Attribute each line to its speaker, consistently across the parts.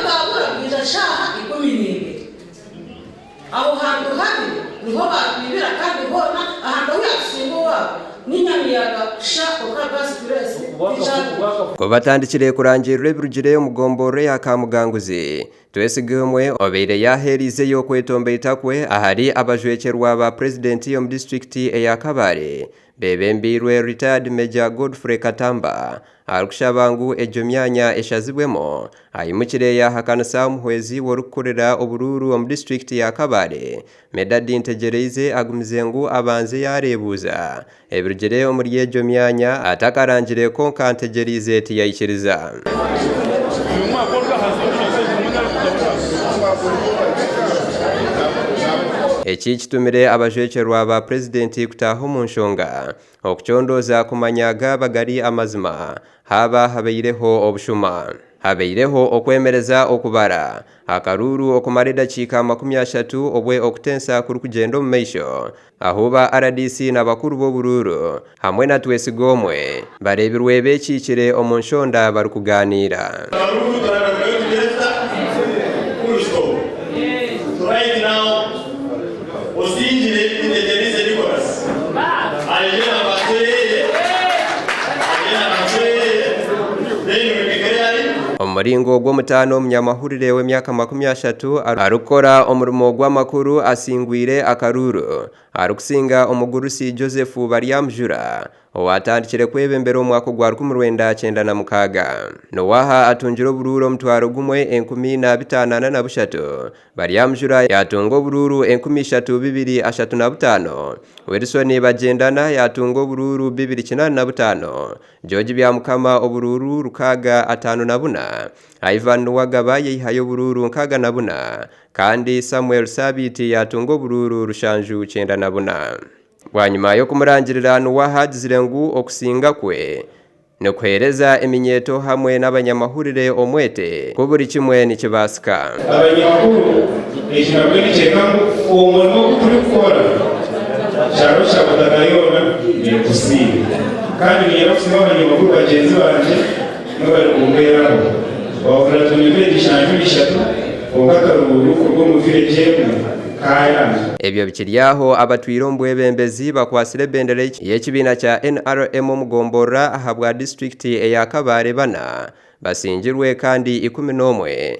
Speaker 1: Baakora kwija shaaha ikumi n'ibiri. Aho hantu habi niho baatwibira kandi hoona ahantu ahu yaatusinga owaabo ninya miyaga kusha oka Bass Grace tikyariho. Ku
Speaker 2: batandikire kurangirirwa ebirugire omu gomborora eya Kamuganguzi, Twesigimwe obeire yaaheereizeyo kwetomba eitakwe ahari abajwekyerwa ba purezidenti omu disiturikiti eya Kabale Beebembeirwe Retired Major Godfrey Katamba arikushaba ngu egyo myanya eshazibwemu, aimukire yaahakanisa omuhwezi we orikukurira oburuuru omu disiturikiti ya Kabale, Medard Ntegyereize agumize ngu abanze yaareebuuza ebirugire omuri egyo myanya atakarangire kwonka Ntegyereize tiyaikiriza. Eki kitumire abajwekyerwa ba purezidenti kutaaha omu nshonga okucondooza kumanya gaaba gari amazima haaba habaireho obushuma. Habaireho okwemereza okubara akaruuru okumara edakiika makumi ashatu obwe okutensa kurikugyenda omu maisho Ahu ba rdc na bakuru b'oburuuru hamwe na Twesigomwe bareebirwe beekiikire omu nshonda barikugaaniira. Omu muringo gw'omutaano, Munyamahoro. Omuhurire w'emyaka makumi ashatu arikukora omurimo gw'amakuru asingwire akaruuru arikusinga omugurusi Joseph Baryamujura owaatandikire kwebembera omu mwaka ogwa rukumi rwenda kyenda na mukaaga. N'owaaha atungire oburuuru omutwaro gumwe enkumi na bitaano ana na bushatu. Baryamujura yaatunga oburuuru enkumi ishatu bibiri ashatu na butaano, Wilson Bagyendana yaatunga oburuuru bibiri kinaana na butaano, George Byamukama oburuuru rukaaga ataano na buna, Ivan Nuwagaba yaihayo oburuuru nkaaga na buna kandi Samuel Sabiiti yaatunga oburuuru rushanju kyenda na buna. Bwanyima y'okumurangirira Nuwaha agizire ngu okusinga kwe nikuheereza eminyeeto hamwe n'abanyamahurire omwete ku buri kimwe nikibaasika. Abanyamahurire
Speaker 3: ekibamwe nikyeeka ngu obumwe n'obu turikukora kyaba kya butaka yoona neetusiima kandi niinyenda kusiima abanyamahurire bagyenzi bangye Bamwe bari kumuhweraho. Waahurira atungirwe ebishanju bishatu, kwonka akarubuubi kuruga omu vireegi emwe kaayanga.
Speaker 2: Ebyo bikiri aho, abatwire omu bwebembezi bakwatsire ebendera y'ekibiina kya nrm omu gomborora ahabwa disiturikiti eya Kabale bana basingirwe kandi ikumi n'omwe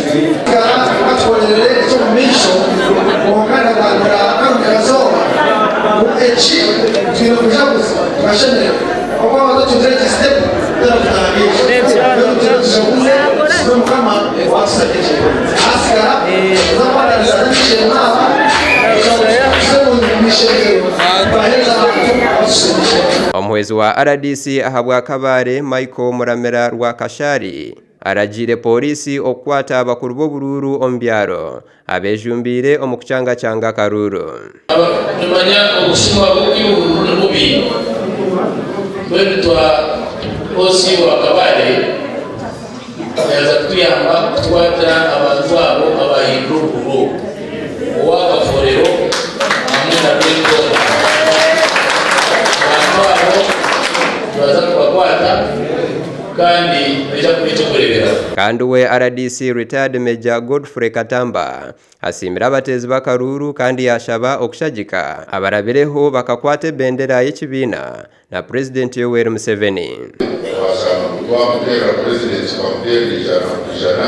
Speaker 2: Omuhwezi wa rdc ahabwa Kabale, Michael Muramira Rwakashari, Aragiire pooriisi okukwata abakuru b'oburuuru omu byaro abeejumbiire omu kucangacanga akaruuru. Nimanya
Speaker 4: obusimba bw'eby'oburuuru ni bubi, mbwenu tuha OC wa Kabale yaaza kutuyamba kutukwatira abantu abo abaahindura oburuuru owa Kafoorero hamwe na Rwenzooba. Abantu abo nibaza kubakwata. kandi naija kuba eky'okureeberaho.
Speaker 2: Kandi owe rdc Retired Major Godfrey Katamba asiimire abateezi b'akaruuru kandi yaashaba okushagika abarabireho bakakwata ebendera y'ekibiina na Purezidenti Yoweri Museveni. Twashaba ngu
Speaker 5: twamuteerera Purezidenti tukamuteerera eijana ku ijana.